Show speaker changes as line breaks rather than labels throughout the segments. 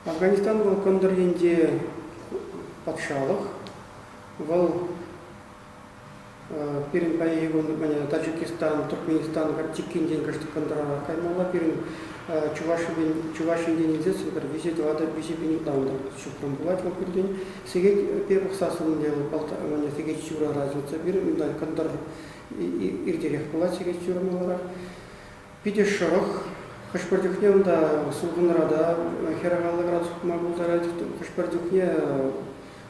Афганистан вӑл кӑнтӑр енче патшалӑх. Вӑл пирӗн паян юкун Таджикистан, Туркменистан чиккинчен кӑшт кӑнтӑрла каймалла. Пирӗн Чуваш Ен Чуваш Ентен илсен сӑнкӑр виҫе тӑватӑ, виҫе пин ытламтӑр ҫухрӑм пулать вӑл пиртен. Сехет пе пӑхсассӑн сехет ҫурара чупса пирӗн унтан кӑнтӑр иртерех пулать сехет-ҫурӑм маларах. Питӗ шӑрӑх. Хӑш-пӗр чухне унта сулхӑнра та хӗрараллӑ градус пыма пултарать. Хӑш-пӗр чухне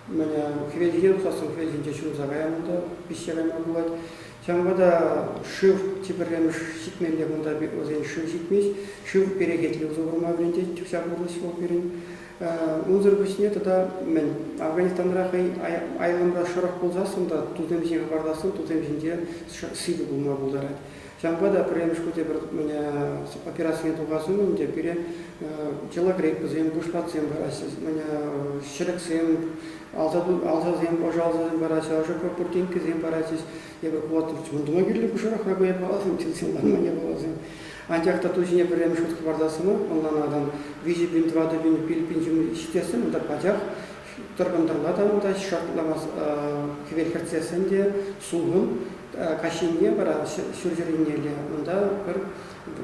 мене хӗвелтен тусассӑн хӗвелтенче ҫунса каян та пиҫсе кайма пулать. Ҫавӑнпа та шыв тепӗрремӗш ҫитмелле кунта вӗсен шыв ҫитмест. Шыв перекетлӗ усӑ курма вӗрентет, чупса курӑс вӑл пирӗн. Унсӑр пуҫне тата мӗн, Афганистанра хӑй айланса шӑрӑх пулсассӑн та тусем ҫине хӑпартассӑн тусем ҫинче сивӗ пулма пултарать. Ҫавӑнпа та пӗрремӗш хутӗ пӗр операцине тухас умӗн те пире йӑла гриппӑсем, пуҫпатсем параҫҫӗ, ҫӗрӗксем, алсасем, ӑшӑсем параҫҫӗ, ӑшӑ пуртинккесем параҫҫӗ. Эпӗ хулатрич вунтӑма кирлӗ пушарахра боеприпасым, тилсемланман япаласем. Анчах та ту ҫине пӗрремӗш хут хӑпартассӑмӑр, ӑнланатӑн. Виҫӗ пин, тӑватӑ пин, пил пин ҫумри ҫитессӗм, унта пачах тӑркӑнтӑрла та унта шартламас хӗвел хӗртсессӗн те сулхӑн. Каҫхине вара ҫурҫӗрӗннелле унта пӗр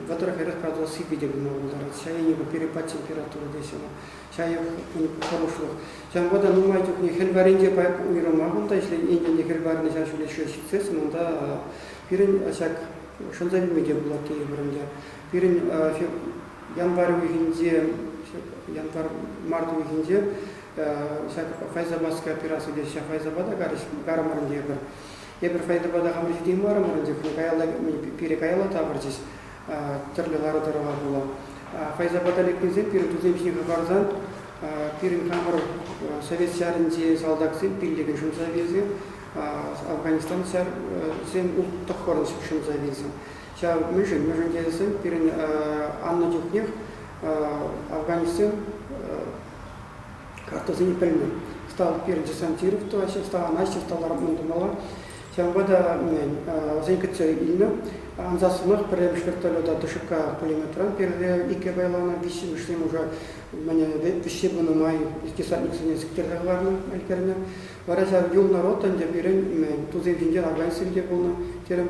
вӑтӑр-хӗрӗх градус сиппи те пулма пултарать. Ҫаяни перепад температура тесе чаев хӑрушлӑх. Ҫавӑнпа та нумай чухне хӗл варринче уйрӑма кунта ӗҫлен ентене хӗл варринӗ ҫав ҫӳле ҫитсессӗн унта пирӗн ҫак шӑлса вилме те пулать тейӗпӗр ӗнтӗ. Пирӗн январь уйӑхӗнче январь март уйӑхӗнче ҫак файзаматская операци теҫҫӗ файзапа та карӑмӑрӑн тейӗпӗр. Эпир файзапа та хамӑр ҫитеймарӑмӑр ӗнтӗ каялла пире каялла тавӑрчӗҫ. тӗрлӗ лару-тӑрӑва пула. Файзабада лекнисем пирӗн тусем ҫине хӑпарсан пирӗн хамӑр Совет ҫарӗнчи салтаксем, пиллӗкӗн шӑмсависем, Афганистансем тӑхпӑрӑн шӑмсависем. Ҫав мӗншӗн? Мӗншӗн тесен пирӗн аннӑ чухнех афганецсем картасене пӗлмен. Стал пирӗн Десантиров тӑваҫҫӗ, стал анаҫҫӗ, стал арман тумалла. Ҫавӑнпа та вӗсен кӗтсе илнӗ. Ансат сӑмах пӗрремӗш вертолета Тушӑка пулеметран пире икке пайланӑ, виҫҫӗмӗшне уже вӗҫсе пынӑ май десантниксене сиктерсе кӑларнӑ, ӗлкӗрнӗ. Вара ҫав юлнӑ рота ӗнтӗ пирӗн тусем ҫинчен, органистсем те пулнӑ, терӗм.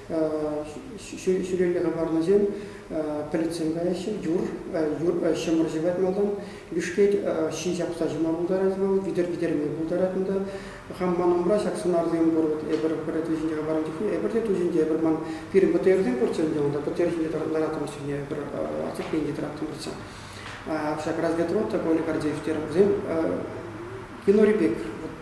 ҫӳлелле хӑпарнисем пӗлӗтсем каяҫҫӗ, юр, юр ҫӑмӑр ҫӑвать малтан, бишкет ҫын ҫапса ҫӑма пултарать вӑл, витӗр-витӗрме пултарать унта. Хам ман умра ҫак сӑнарлисем пур, вот эпир пӗр ту ҫинче хӑпарнӑ чухне, эпир те ту ҫинче, эпир ман пирӗн ПТРсем пурччӗ ӗнтӗ унта, ПТР ҫинче лараттӑмӑр чухне, эпир отступление тӑраттӑмӑрччӗ. Ҫак разведрота Коля Гордеев терӗ, вӗсем Генори бек, вот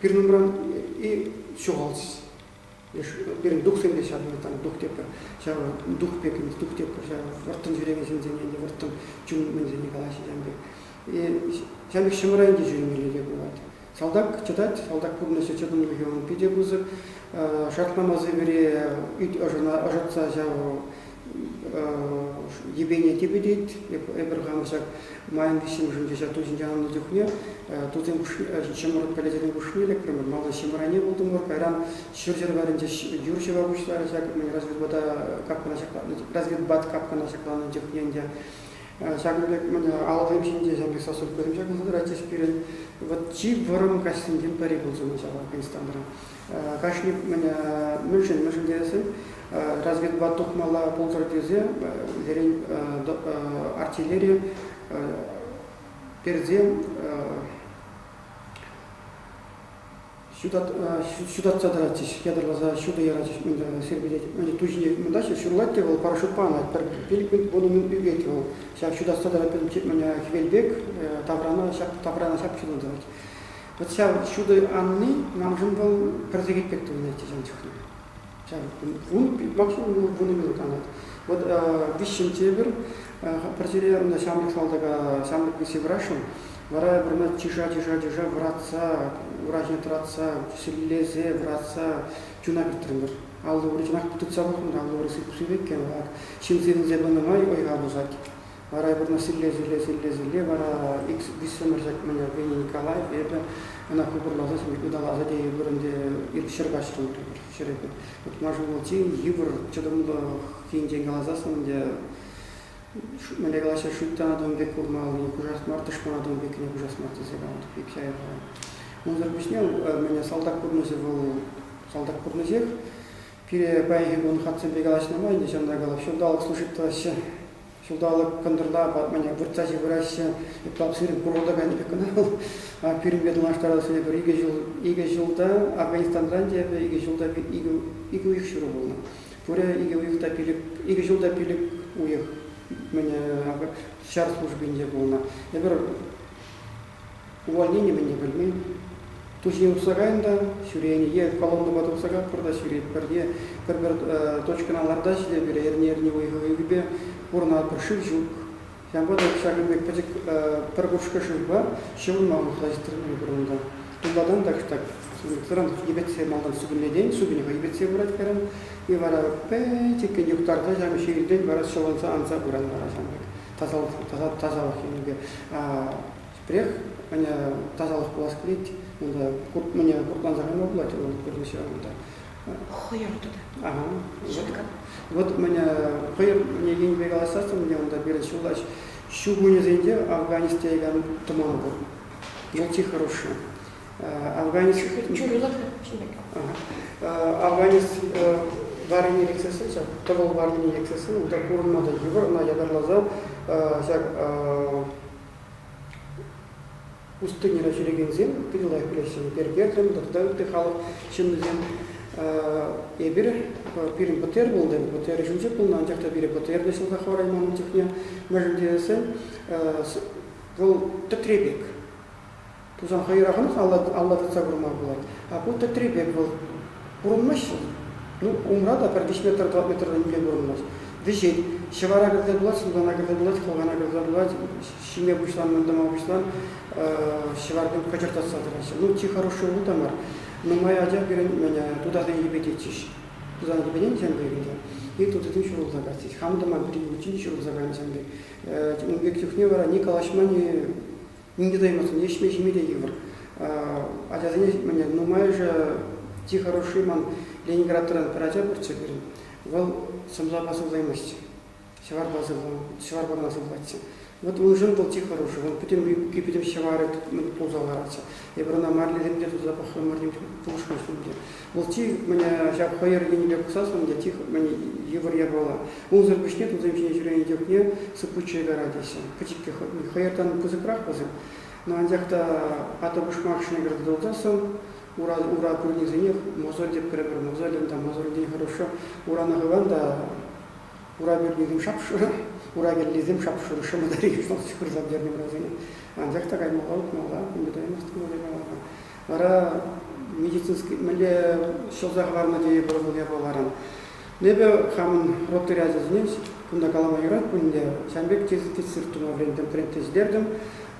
Пирӗн умран и ҫухалчӗ. Пирӗн духсем те ҫав, там дух тепӗр, ҫав дух пек, дух тепӗр ҫав вӑрттӑн ҫӳревӗсенсене те вӑрттӑн чунӑмӗсене калаҫҫӗ ҫав пек. Ҫав пек ҫӑмра ӗнтӗ ҫӳремелли те пулать. Салтак чӑтать, салтак пурнӑҫӗ чӑтӑмлӑхӗ ун питӗ пысӑк. Шартламаси вӗри ӑшӑтса ҫав йӗпене типӗтет. Эпир хам ҫак майӑн виҫҫӗмӗшӗнче ҫак ту ҫинче аннӑ чухне тусем хушне, ҫӑмӑрт пӗлӗчӗсен хушне лекрӗмӗр. Малта ҫӑмране пултӑмӑр. Кайран ҫӗр-ҫӗр варӗнче юр ҫӑва пуҫларӗ ҫак разведбата капкана ҫакланнӑ, разведбат капкана ҫакланнӑ чухне ӗнтӗ. Ҫакӑн пек алӑсем ҫинче ҫак пек сосудкӑсем ҫакӑнса тӑратчӗҫ пирӗн. Вот чи вӑрӑм каҫсенчен пӗри пулчӗ ҫавӑ Константра. кашни мӗншӗн тесен разведбат тухмалла пултӑр тесе сирӗн артиллери персе ҫутатса тӑратчӗҫ ятарласа ҫутӑ ярачӗҫ сирпӗтет ту ҫине мӑнтаҫҫӗ ҫурлать те вӑл парашютпа анать пӗр пилӗк вун умӗн ӳкет вӑл ҫав ҫутатса тӑрать хӗвел пек таврана ҫак таврана ҫак ҫутатать Вот ҫав ҫутӑ анни, маншӑн вӑл пӗр сехет пек тулнӑ ӗҫтешӗм чухне. Ҫав ун максимум вунӑ минут канать. Вот виҫҫӗн тепӗр пӗр ҫӗре ӑна ҫамрӑк салтака ҫамрӑк виҫе вырасшӑн, вара вырма чыша чыша чыша вӑратса врачне тӑратса силлесе вӑратса чуна кӗртрӗмӗр. Алли ури чӑнах тытса пӑхрӑм та алли ури сыпши иккен. Ҫын сирӗнсе тӑнӑ май ойха пусать. Вара вырна силле-силле-силле-силле вара икс виҫсӗмӗр ҫакмӗнӗ Веня Николай эпӗ ӑна купӑрласа ыталаса те вырӑн те ҫӗр каҫрӑм ҫӗре утма ҫулӑлчи йывӑр чӑтӑмлӑх енчен каласассӑн ӗнтӗ мӗне калаҫҫӗ шуйттанатӑн пек курмалли кушас мар тӑшманатӑн пекне кушас мар тесе калатӑп пек ҫайӑхра унсӑр пуҫне мӗне салтак пурнӑҫӗ вӑл салтак пурнӑҫех пире паянхи кун хатсемпе калаҫнӑ май ӗнтӗ ҫавӑнта калап ҫулталӑк служить тӑваҫҫӗ Ҫулталӑк кӑнтӑрла ватмане выртса ҫывӑраҫҫӗ. Ытла сирӗн курӑлтаканӗ пек кӑна вӑл. Пирӗнпе танлаштарас эпир икӗ ҫул, икӗ ҫулта Афганистанран те эпӗ икӗ ҫулта икӗ, икӗ уйӑх ҫуру пулнӑ. Пурӗ икӗ уйӑх та пилӗк, икӗ ҫул та пилӗк уйӑх мӗне ҫар службинче пулнӑ. Эпир Ку ӗне-мӗне пӗлмен. Туҫи усракан та ҫӳренӗ е колоннӑпа тухсакатпӑр та ҫӳретпӗр е пӗр-пӗр точкӑна лартаҫҫӗ те пире эрне-эрне уйӑхӗ-уйӑхӗпе пурӑнатпӑр. Шыв ҫук. Ҫавӑнпа та ҫакӑн пек пӗчӗк пӗр кушкӑ шывпа ҫӑвӑнма мухтаҫҫӗ пур унта. Туллатан та ҫук так. Сундуксӑран йӗпетсе малтан супӑнлетен супӑньӑха йӗпетсе пырать каран. И вара пӗчӗккӗн юхтарса ҫав ҫиелтен вара ҫӑвӑнса анса пыран вара ҫамрӑк. тасалӑх енӗпе пӗрех тасалӑх пулас килет унта мӗне куртланса кайма пулать вӑл пӗрлешсе унта. Хӑйӑр тата.
Ага. Щетка.
Вот мне хӑйӑр мне енӗпе каласассың мне унта пирӗн ҫуллач ҫу кунӗсенче Афганистан тӑман пур. Ялти хороший. Афганец чухлилар Афганец варрине лексессен, ҫак тӑвӑл варрине лексессен, унта пурӑнма та йывӑр, ӑна ятарласа ҫак пустыньӑра ҫӳрекенсем питӗлах пулеҫҫӗ. Пергертем тата ытти халӑх ҫыннисем. Эпир пирӗн БТР пулды, БТР ҫинче пулнӑ, анчах та пире БТР те ҫӑлса хӑварайман чухне. Мӗншӗн тесен вӑл тӗтре пек. Тусан хӑйӑрахӑн алла тытса курма пулать. Ку тӗтре пек вӑл. Курӑнмаҫҫӗ. Ну, умра та пӗр виҫ метр, тӑват метртан нимле курӑнмасть. Вӗҫет. Ҫӑвара кӗрсе пулать, султана кӗрсе пулать, хӑлхана кӗрсе пулать, ҫиме пуҫланӑ, ӑнтӑма пуҫлан, ҫӑварсем кӑчӑртатса тӑраҫҫӗ. Ну, чи хороший улу та мар. Нумай ача пирӗн тутасен йӗпететчӗҫ. Тусан йӗпетенсем пек ӗнтӗ. И тутисем ҫурӑлса каҫҫӗҫ. Хам тӑман пирӗн пӳртчен ҫурӑлса кайнӑ ҫын пек. Ун пек чухне вара ни калаҫма, ни ним те тӑймассӑн ӗҫме-ҫиме те йывӑр. Ачасене нумайӑшӗ чи хороший ман Ленинградран пӗр ача пурччӗ пирӗн. Вӑл сӑмсапа сывлаймасть. Ҫӑварпа ҫӑварпана сывлатчӗ. Вот уншӑн вӑл чи хороший. Вӑл пӗтӗм юбки, пӗтӗм ҫӑварӗ пулса ларатчӗ. Эпир ӑна марлисем те туса пӑхрӑмӑр, пулӑшмаҫҫӗ те. Вӑл чи мӗне ҫак пӑйӑр енӗпе пӑсассӑн те чи мӗн йывӑр япала. Унсӑр пуҫне тусем ҫине ҫӳренӗ чухне сыппутчӑ карать теҫҫӗ. Пӗчӗккӗ хӑйӑртан пысӑкрах вӗсем, но анчах та атӑ-пушмак ҫӗнӗ туталсассӑн ура пӳрнисенех мозоль тепкӗрӗпӗр. Мозолӗн та, мозольтен хорошо. Урана хыван та ура пӳрнисем шапшур, ура виллисем шапшур шӑмӑтари шурсам тернӗ вӗрасене. Анчах та каймалла утмалла, ӳмӗтаймастӑн вӑл япалапа. Вара медицинский мӗнле ҫӑлса хӑварма тейӗпӗр вӑл япаларан. Ну, эпӗ хамӑн ротари ачасене кунта калама юрать пулин те, ҫан пек тестир тума вӗрентӗм, тренд тестилертӗм.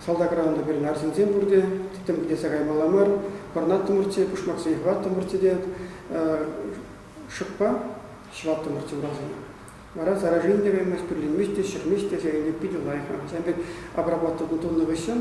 Салтакра унта пирӗн арҫынсем пурте, тӗттӗм килсе каймалла мар. Пӑрӑнаттӑмӑрччӗ, пушмаксене хӑваттӑмӑрччӗ те шӑкпа ҫӑваттӑмӑрччӗ урасене. Вара заражение те каймасть, пӳрленмест те, ҫӗрмест те, сирӗн те питӗ лайӑх. Ҫан пек обработка тунӑ хыҫҫӑн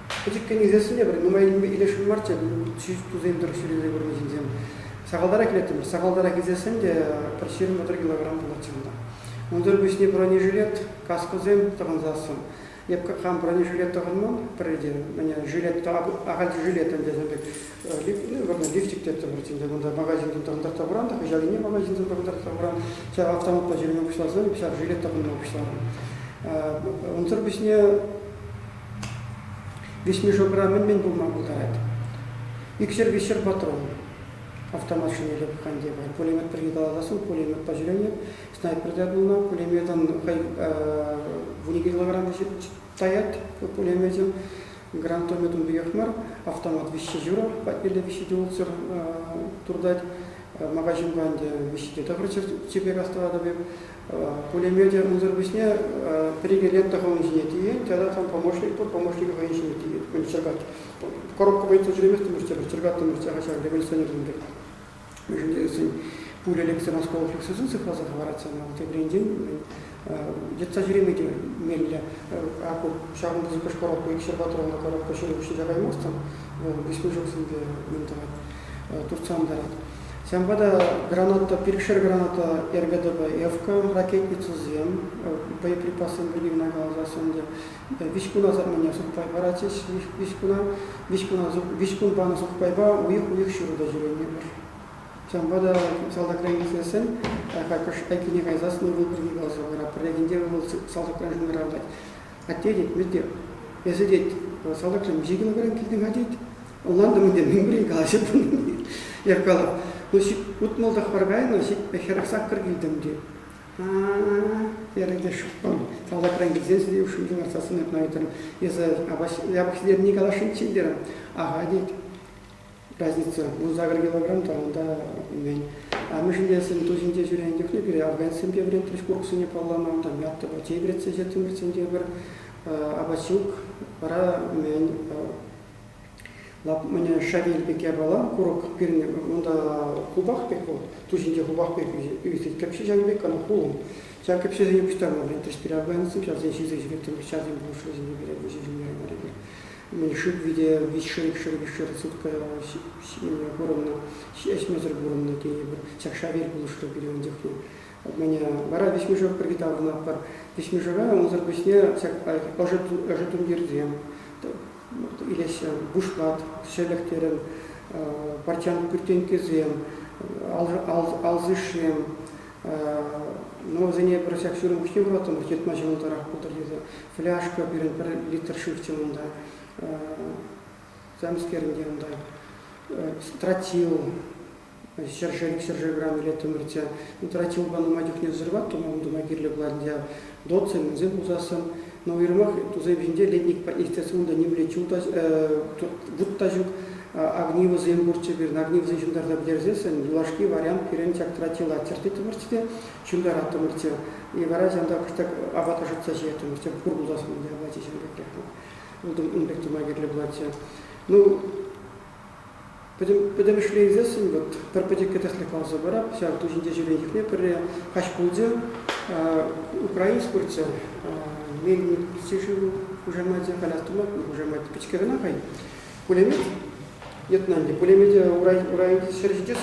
Пӗчӗккӗн ӳсессӗн те пӗр нумаййине илесшӗн марччӗ тусем тӑрӑх ҫӳресе курнӑ ҫынсем. Сахалтарах илеттӗмӗр. Сахалтарах ӳсессӗн те пӗр ҫирӗм пӗр килограмм пулнӑччӗ унта. Унсӑр пуҫне бронежилет, каскӑсем тӑхӑнсассӑн. Эп хам бронежилет тӑхӑнман пӗррехинче. Мӗне жилет, ахаль жилет ӗнтӗ, вырнӑ лифчик теттӗмӗр ӗнтӗ. Кунта магазинтан тӑхӑнтарса хуран та хыҫал ене магазинтан тӑхӑнтарса хуран. Ҫав автоматпа ҫӳреме пуҫласан ҫав жилет тӑхӑнма пуҫларӑм. Унсӑр пуҫне Веҫмешокра мӗн-мӗн пулма пултарать? Икҫӗр-виҫҫӗр патрон автомат ҫине лӑпкан тепӗр. Пулемет пирки каласам, пулеметпа ҫӳренӗ, снайперта пулнӑ. Пулеметӑн хӑй вунӗ килограмм таять пулеметӗн. Гранатометӑн пекех мар, автомат виҫҫе ҫурӑ патнелле виҫҫе те ултсӑр туртать. Магазинпа ӗнтӗ виҫҫе те тӑхӑрччӗр чипер астӑватӑп эп. пулемете унсӑр пуҫне пӗр-икӗ лентӑ хӑйӗн ҫине тиет тата там помощник пур помощникӗ хӑйӗн ҫине тиет чӗркать коробка вӑйттӑн ҫӳреместӗмӗр тепӗр чӗркаттӑмӑр ҫакӑ ҫак революционерсем пек вӗсен пуля лексе осколок лексесен сыхласа хӑварать сана тепринчен йӑтса ҫӳреме те меллӗ ку ҫавӑнта сиккеш коробка икҫӗр патруллӑ коробка ҫӳре пуҫне каймастӑн вӑл виҫмӗшексемпе мӗн тӑвать туртса антарать Ҫавӑнпа та граната, пилӗкшер граната РГДБ ЭФКА, ракетницӑсем, боеприпассем вырӑнне каласас ӗнтӗ, виҫ кун асапне сухпай паратчӗҫ. Виҫ куна, виҫ куна, виҫ кун панӑ сухпайпа уйӑх-уйӑх ҫурӑ та ҫӳреймӗпӗр. Ҫавӑнпа та салтакран килсессӗн какӑш айккине кайсассӑн ывӑл пирки каласа паратпӑр. Регенте ывӑл салтакран шӑнкӑравлать. Атте, тет, Мете, эсӗ, тет, салтакран миҫе килограмм килтӗн-ха, тет, Улантӑм ӗнтӗ, мӗн пулин калаҫа пулнӑ. Яркалов, ну утмӑлтах паркайнӑ, хӗрӗх саккӑр килтӗм те. Терӗ те шӑппӑн. Салтакран килсен сире ушкӑнне ларса сӑнатна ыйтрӑм. Эсӗ япӑх ӗнни каласшӑнччен терӗм. Аха тет. Разница. вунсакӑр килограмм тӑран та мӗн. Амӑшӗн те эсӗн ту ҫинче ҫӳренӗ чухне пире афганецсемпе вӗрентрӗҫ курӑксене паллама, там яттӑпа чей вӗретсе ҫитрӗмӗр сентябрь. Апат ҫук, вара мӗн, Мӗне шавель пек япала, курӑк пирне, унта хупах пек вӑл, ту ҫинче хупах пек ӳсет. Кӗпҫе ҫанӑ пек ӑна хулӑм. Ҫак кӗпҫесене пуҫтарма вӗрентрӗҫ переобганцев, ҫавсен ҫисе ҫӳреттӗм, ҫасем пулӑшрӗсене вӗренме ҫиҫӗнтермелле. Мӗн шыв вите виҫ шыв, шыв виҫ шыр сутка ҫиме курӑннӑ, ӗҫмесӗр курӑннӑ тенӗ Ҫак шавель пулӑшрӗ пире ун чухне. Мӗне вара виҫмешок пирки таврӑнатпӑр. Виҫмешока унсӑр пуҫне ҫак ӑшӑ тумтирсем, илеҫҫӗ, бушкат, ҫӗлӗк терӗм, портянка кӳртенккисем, алсишсем. Ну, вӗсене пӗр ҫак ҫурӑм хӑҫан вӑратӑмӑр, йӑтма ҫӑмӑлтарах пултӑр тесе. Фляжка пирӗн пӗр литр шыв унта. Замскерӗн те унта. Стратил, ҫӗршыв ҫӗршывран илеттӗмӗрччӗ. Тӑраччи упа нумай чухне сӑрваттӑмӑр, ун тума кирлӗ пулатчӗ. Дотсем мӗнсем пусассӑн. Но уйрӑмах тусем ҫинче летник естественно унта нимле чул та, вут та ҫук. Огнивӑсем пурччӗ пирӗн. Огнивӑсем ҫунтарса пӗтерсессӗн юлашки вариант пирӗн чактратчи латтертеттӗмӗрччӗ те ҫунтараттӑмӑрччӗ. И вара ҫанталӑк кӑштах апата шӑтса ҫиеттӗмӗрччӗ. Пур пулас пулчӗ апачӗ ҫын пекрех. Ултӑм ун пек тума кирлӗ пулатчӗ. Ну, Пӗтӗмӗшле илсессӗн вот пӗр пӗчӗккӗ тӗслӗх каласа парап. Ҫав ту ҫинче ҫӳренчӗкне пӗрре каҫ пулчӗ. Украинск пырччӗ. Мельник пичче шыву хушамачӗ халь астуматӑн хушамачӗ пичке кӑна хай. Пулемет йӑтнӑ ӗнтӗ. Пулемете урайӗнчи ҫӗр ҫитес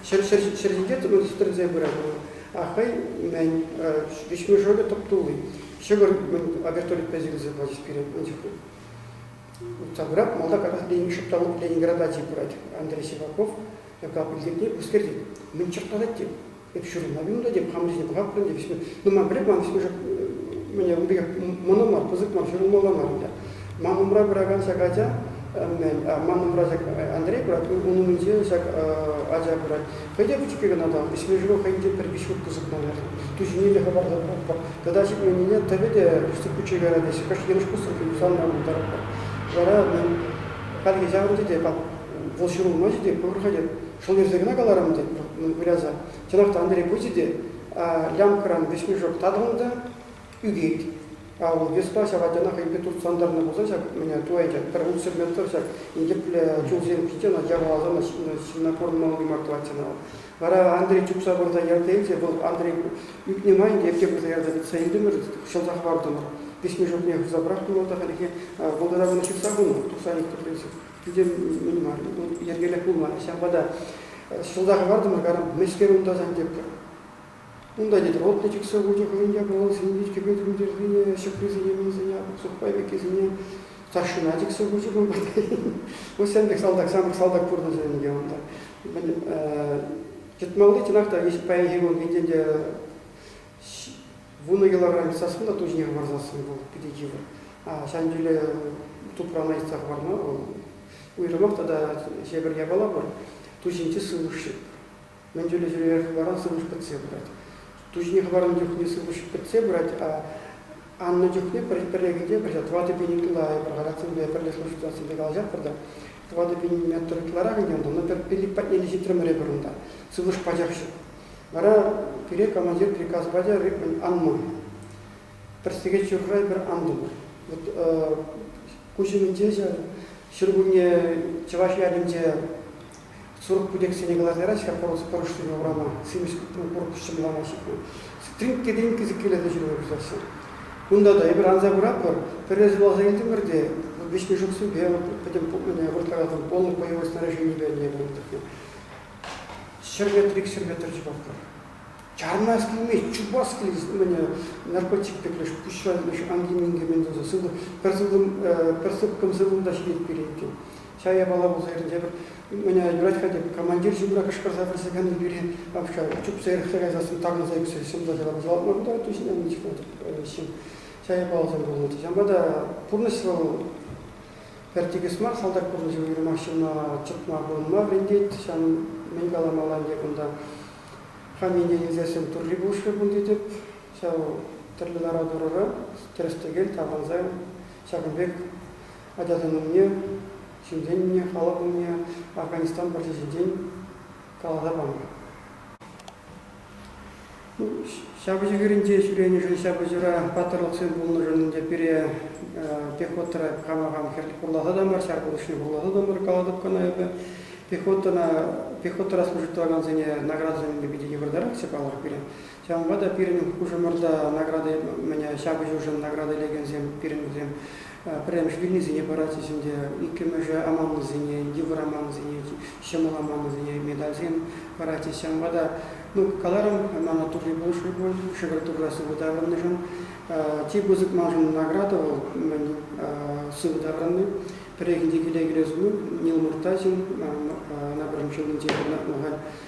ҫӗр ҫӗр ҫӗр ҫитет ӑна тӗлтерсе пырать. А хӑй мӗн виҫме шӑлӗ тӑп тулли. Ҫӑкӑр мӗн обертолик пӗҫӗ килсе пачӗҫ пирӗн ун чухне. Уставра малта каҫассипен ҫупталӑк Ленинграда чи пырать. Андрей Сиваков кал пилтирне пӗскерти. Мӗн чӑхтатать те. Эп ҫурӑна вилнӗ тетӗп, хамӑрсене пӑхатпӑр ӗнтӗ. Вӗсене, ну ман пӗлет, ман вӗсене мӗне ун пекех мӑнӑ мар, пысӑк мар, ҫурӑлмалла мар ӗнтӗ. Ман умра пыракан ҫак ача, мӗн, ман умра ҫак Андрей пырать, ун умӗнче ҫак ача пырать. Пӗтӗм-ҫке кӑна та, ӗҫме-ҫума хӑйӗн те пӗр-виҫ хут пысӑкманах. Ту ҫине лӗхӗ-варса пухпӑр. Тата ҫитменнине, тӑвӗ те пӳстӗк куччен кайра теҫҫӗ. Кӑшт йӑнӑш пуссӑн юсанма пултаратпӑр. Вара мӗн, хальхи ҫавӑнчӗ те, вӑл ҫурӑлмаҫӗ те, пур-ха те. Шӑл ерсе кӑна каларӑм тет вӑл, выряса. Чӑнах та, Андрей пычӗ те, ямкӑран вӗҫмешок татӑлнӑ та. ӳкет. Ав, Веспа ҫав ачана хӑйпе туртса антарнӑ пулсан ҫак мӗне ту ӗнтӗ, пӗр утсӑр метр ҫак инкеплӗ чулсем пите ӑна яваласан ҫынна курӑнмалли мар тӑвать ӑна вӑл. Вара Андрей чупса пырса яртен те вӑл Андрей ӳкнӗ май ӗнтӗ эпте пырса ярса илтӗмӗр, ҫӑлса хӑвартӑмӑр. Пиҫме ҫуртне хывса пӑрахтӑм вӑл та хальлӗхе вӑлтӑра кӑна ҫыхса хунӑ, тухса тӗпленсе. Питӗ мӗн мар, вӑл йӗркелӗх пулман. Ҫавӑнпа та ҫӑлса хӑвартӑмӑр, карам, мӗскер унта сан тепкӗ? Унта йӗтровод та чиксе хучӗ хӑйӗн япаласене, виткӗпе тумтирсене, ҫӑкрисене, мийсене, сухпай пеккисене. Старшина чиксе хучӗ кун патне. Вот сан пек салтак, сан пек салтак пурнӑҫ ӗнтӗ унта. Мӗн, тытмалли чӑнах та паянхи кун витен те вунӑ килограмм сассун та ту хӑварсассӑн вӑл питӗ йывӑр. А ҫан тӳле тупрана йӑтса хӑварма вӑл уйрӑмах тата ҫепӗр япала пур, ту ҫинчи сывлӑш мӗн тӳлесерех вара сывлӑш пӗтсе пырать. Туҫне хӑварнӑ чухне сывлӑш пӗтсе пырать, а аннӑ чухне пӗр кӗнче пӗрле тӑватӑ пин ытла эпир характерсемпе пӗрле служительсемпе калаҫатпӑр та тӑватӑ пин метр ытларах ӗнтӗ унта, но пӗр пилӗк патнелле ҫитрӗмӗр эпир унта, сывлӑш пачах ҫук. Вара пире командир приказ пачӗ ритмӗн ан мой. Пӗр сехет ҫурра эпир антӑмӑр. Вот куҫ умӗнче ҫӗр кунне чӑваш ялӗнче 40 путексене кӑларнӑ яра ҫӗрпурӑс пӑрӑшсене урама, симӗс купрун курӑкҫӑ мӑлама ҫыхнӑ. Стрим кӗтен кӗсӗккелесе ҫырӑва пуҫлаҫҫӗ. Кунта та эпир анса куратпӑр, пӗрре ҫуралса ӳсетӗмӗр те виҫме ҫухсемпе пӗтӗм пупмине выртакан полнӑй боевое снаряженипе ӗне вырттарнӑ. Ҫӗр метр ик ҫӗр метр чупатпӑр. Чармас килмест, чупас килет, мӗне наркотик пек леш пуҫра леш анки-минки мӗн тунса сывлӑх, пӗр сывлӑм, пӗр сыпкӑм сывлӑм та ҫитет пире иккен. чая мала пулса иртнӗ тепӗр меня юрать-ха тек командир ҫумра кӑшкӑрса пӗрсе кӗнӗ пире апша чупса эрехсе кайсассӑн тарӑнса ӳксе ҫӑмса ҫӑлапаса лартма кунта тусне ничего ҫын чая палса курулнӑ ҫавӑнпа та пурнӑҫ вӑл пӗр тикӗс мар салтак пурнӑҫӗ уйрӑмах ҫынна чӑтма пурӑнма вӗрентет ҫав мӗн каламалла ӗнтӗ кунта хамине илсессӗн турри пулӑшрӗ кун тетӗп ҫав тӗрлӗ лару-тӑрура тӗрӗс-тӗкел тапӑнса ҫакӑн пек ачасен умне, ҫынсен умне, халӑх умне Афганистан вӑрҫи ҫинчен каласа панӑ. Ҫапӑҫу хирӗнче ҫӳренӗшӗн, ҫапӑҫура паттӑрлӑхсем пулнӑшӑн ӗнтӗ пире пехотӑра хама хам хӗрлӗ хурласа та мар, ҫар пулӑшне хурласа та мар калатӑп кӑна эпӗ. Пехотӑна, пехотӑра служить тӑвакансене наградӑсем илме питӗ йывӑртарахчӗ палӑр пире. Ҫавӑнпа та пирӗн хушӑмӑрта награда ҫапӑҫушӑн награда илекенсем пирӗн пӗрремӗш вилнисене паратчӗҫ ӗнтӗ, иккӗмӗшӗ аманнисене, йывӑр аманнисене, ҫӑмӑл аманнисене медальсем паратчӗҫ. Ҫавӑнпа та ну, каларӑм, мана турри пулӑшрӗ пуль шӗкӗр туррасем ытарӑннӑшӑн. Чи пысӑк маншӑн награда вӑл мӗн сывӑ таврӑнни. Пӗррехинче киле кӗрес умӗн Нил Муртазин на пӗрремӗш ҫулӗнче пурӑнатнӑ халь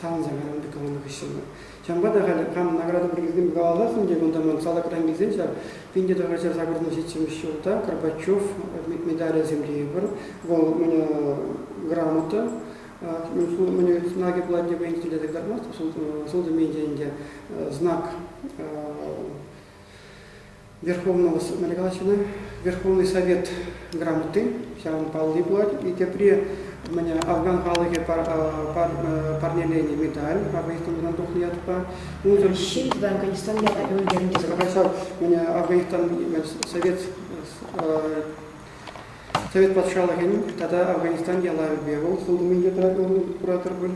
савӑнса кайрӑм экономика хыҫҫӑн. Ҫавӑнпа та халӗ кам награда пуррисем мураласӑн тет, унта ман салакран килсен ҫав пинте тӑхӑрҫар сакӑртан ҫитсемеш ҫулта Горбачев медалӗсем тейӗпӗр. Вӑл міне грамота міне знаки платье поинте те кӑтартмасть, сӑлтӑм ӗнтӗ знак Верховного Нарегачина, Верховный Совет грамоти, ҫавӑн палли пулать. И тепре мне афган халӑхӗ парнеленӗ медаль Афганистан белан тухнӑ ятпа. Унсӑр Ҫын
Афганистан ятӗ ӳлкернӗ. Ҫакӑ мне
Афганистан Совет Совет патшалӑхӗн тата Афганистан ялавӗпе вӑл сылтӑмӗнче тӑратнӑ куратӑр пуль.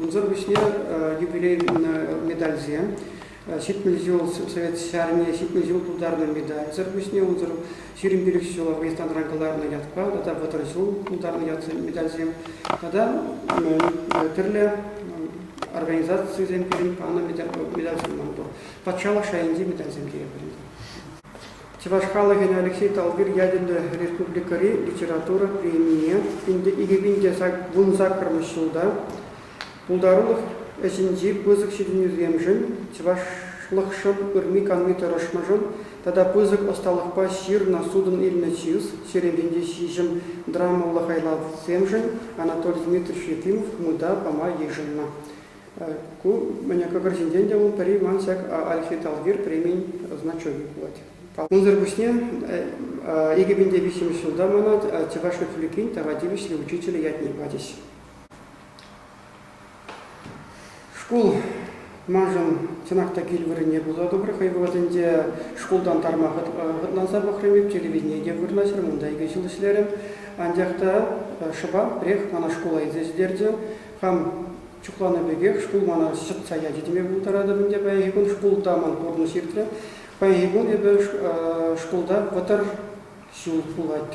Унсӑр пуҫне юбилей медальсем Ҫитмӗл ҫул Совет Ҫарне ҫитмӗл ҫул тултарнӑ медальсӗр пуҫне унсӑр ҫирӗм пилӗк ҫул Афганистанран кӑларнӑ ятпа тата вӑтӑр ҫул тултарнӑ ятсен медальсем тата тӗрлӗ организацисем пирӗн панӑ медальсем ман пур. Патшалӑх шайӗнчи медальсем тейӗпӗр. Чӑваш халӑхӗн Алексей Талбир ятӗллӗ республикӑри литература премине ӗнтӗ 2000 саккӑрмӗш ҫулта Пултарулӑх ӗҫӗнчи пысӑк ҫитӗнӳсемшӗн, чӑвашлӑхшӑн ырми-канми тӑрӑшнӑшӑн тата пысӑк ӑсталӑхпа ҫырнӑ судӑн илнӗ чыс, Черемхенти ҫиҫӗм драмӑллӑ хайлавсемшӗн Анатолий Дмитриевич Ефимов мыта пама йышӑннӑ. Ку мӗне кӑкӑр ҫинчен те вӑл пӗри ман ҫак Альфи Талвир премийӗн значокӗ пулать. Унсӑр пуҫне икӗ пин те виҫҫӗмӗш ҫулта мана Чӑваш Республикин тава тивӗҫлӗ учителӗ ятне пачӗҫ. Шкул маншӑн чӑнах та кил вырӑнне пулса тӑмрӗ хӑй вӑхӑтӗнче. Шкултан тарма хӑтланса пӑхрӑм эп, телевидение те вырнаҫрӑм, унта икӗ ҫул ӗҫлерӗм. Анчах та шӑпах пӗрех мана шкула илсе ҫитерчӗ. Хам чухланӑ пекех шкул мана ҫӑтса ячӗ теме пултаратӑп ӗнтӗ паянхи кун. Шкулта ман пурнӑҫ иртрӗ. Паянхи кун эпӗ шкулта вӑтӑр ҫул пулать.